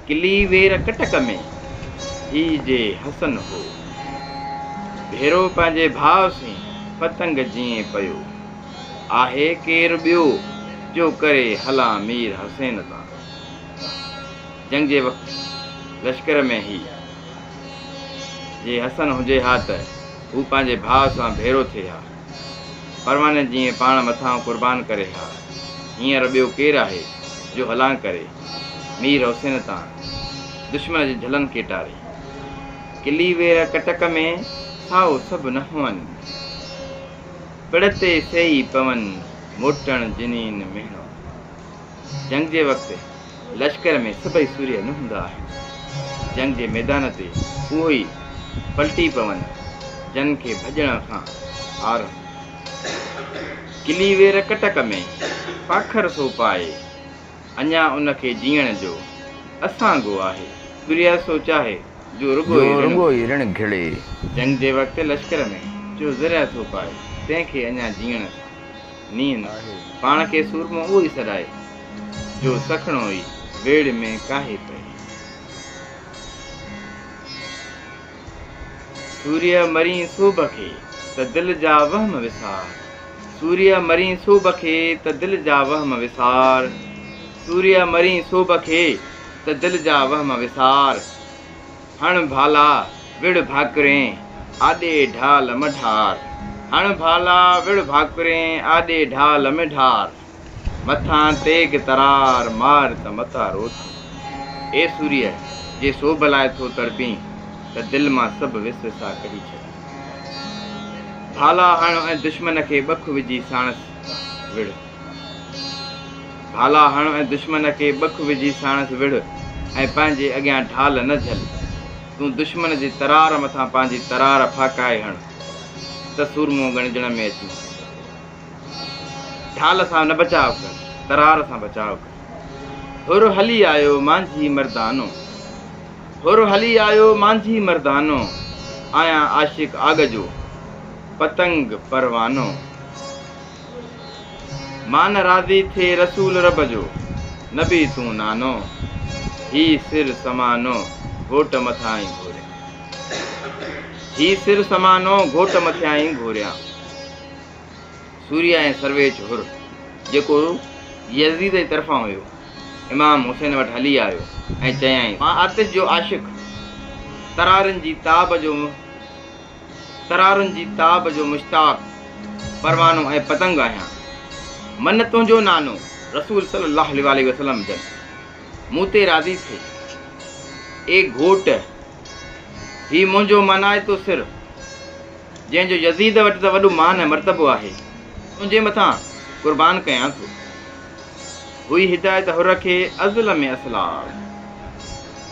ڪلي وير ڪٽڪ ۾ هي جي حسن هو. ڀيرو پنهنجي ڀاء سين پتنگ جيئن پيو. آهي ڪير ٻيو جو ڪري هلان مير حسين تان. جنگ جي وقت لشڪر ۾ هي جي حسن هجي ها ته هو پنهنجي ڀاء سان ڀيرو ٿئي ها. پرواني جيئن پاڻ مٿان قربان ڪري ها، هينئر ٻيو ڪير آهي جو هلان ڪري، مير حسين تان، دشمن جي جهلن کي ٽاري. ڪلي وير ڪٽڪ ۾، سائو سڀ نه هئن، پڙ تي سيئي پون، موٽڻ جنين مهڻو. جنگ جي وقت لشڪر ۾ سڀئي سورهيه نه هوندا آهن. جنگ جي ميدان تي اهو ئي پلٽي پون، جن کي ڀڄڻ کان عار هوندي. ڪلي وير ڪٽڪ ۾ پاکر ٿو پائي، اڃا ان کي جيئڻ جو اسانگو آهي. سورهيه سو چاهي، جو رڳو ئي رڻ گهڙي. جنگ جي وقت لشڪر ۾ جو زرهيه ٿو پائي، تنهن کي اڃا جيئڻ کان. نينهن پاڻ کي سورمو اهو ئي سڏائي، جو سکڻو ئي ويڙهه ۾ ڪاهي پئي. سوريء مرين سوڀ کي ته دل جا وهم وسار، سوريء مرين سوڀ کي ته دل جا وهم وسار، سوريء مرين سوڀ کي ته دل جا وهم وسار. هڻ ڀالا وڙهه ڀاڪرين آڏي ڍال م ڍار. هڻ ڀالا وڙهه ڀاڪرين آڏي ڍال م ڍار. مٿان تيغ ترار مار ته متان رو ٿو. اي سوريء جي سوڀ لاء ٿو تڙپين ته دل مان سڀ وس وساء ڪڍي ڇڏ. ڀالا هڻ ۽ دشمن کي ٻک وجهي ساڻس وڙهه. ڀالا هڻ ۽ دشمن کي ٻک وجهي ساڻس وڙهه ۽ پنهنجي اڳيان ڍال نه جهل. تون دشمن جي ترار مٿان پنهنجي ترار ڦاڪائي هڻ ته سورمو ڳڻجڻ ۾ اچين. ڍال سان نه بچاء ڪر، ترار سان بچاء ڪر. هر هلي آيو مانجهي مردانو، هر هلي آيو مانجهي مردانو، آهيان عاشق آڳ جو، پتنگ پروانو. مان نه راضي ٿئي رسول رب جو، نبي تون نانو، هي سر سمانو گهوٽ مٿاهين گهوريان. هي سر سمانو گهوٽ مٿياهين گهوريان. سوريا ۽ سرويچ حر جيڪو يزيد جي طرفان هيو، امام حسين وٽ هلي آيو ۽ چيائين، مان آتش جو عاشق، ترارين جي تاب جو ترارن جي تاب جو مشتاق پروانو ۽ پتنگ آهيان من تنهنجو نانو رسول صلي الله عليه واٰله وسلم جن مون تي راضي ٿي اي گهوٽ هي منهنجو مانائتو سر جنهن جو يزيد وٽ ته وڏو مان ۽ مرتبو آهي تنهنجي مٿان قربان ڪيان ٿو هئي هدايت حر کي ازل ۾ اسلام.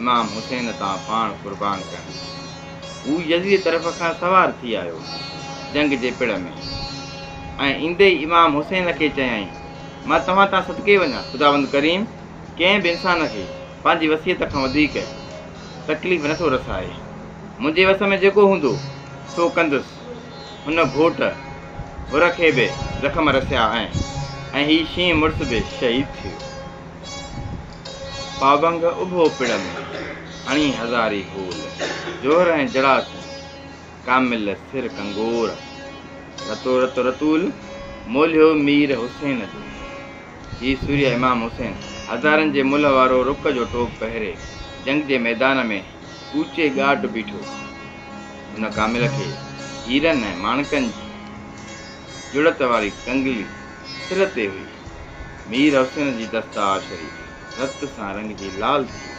امام حسين تان پاڻ قربان ڪيائين. هو يزيد طرف کان سوار ٿي آيو جنگ جي پڙ ۾ ۽ ايندي ئي امام حسين کي چيائين، مان توهان تان صدقي وڃان، خداوند ڪريم ڪنهن به انسان کي پنهنجي وصيت کان وڌيڪ تڪليف نه ٿو رسائي. منهنجي وس ۾ جيڪو هوندو سو ڪندس. هن گهوٽ حر کي به زخم رسيا ۽ هي شينهن مڙس به شهيد ٿيو. پابنگ اڀو پڙ ۾، هڻي هزاري گول. جوهر ۽ جڙا ٿيون، ڪامل سر ڪنگور. رتو رت رتول، مولهيو مير حسين جو. هي سوريه امام حسين، هزارن جي ملهه وارو رڪ جو ٽوپ پهري، جنگ جي ميدان ۾ اوچي ڳاٽ بيٺو. هن ڪامل کي هيرن ۽ ماڻڪن جي جڙت واري ڪنگلي سر تي هئي. مير حسين جي دستار شريف رت سان رڱجي لال ٿي ويو.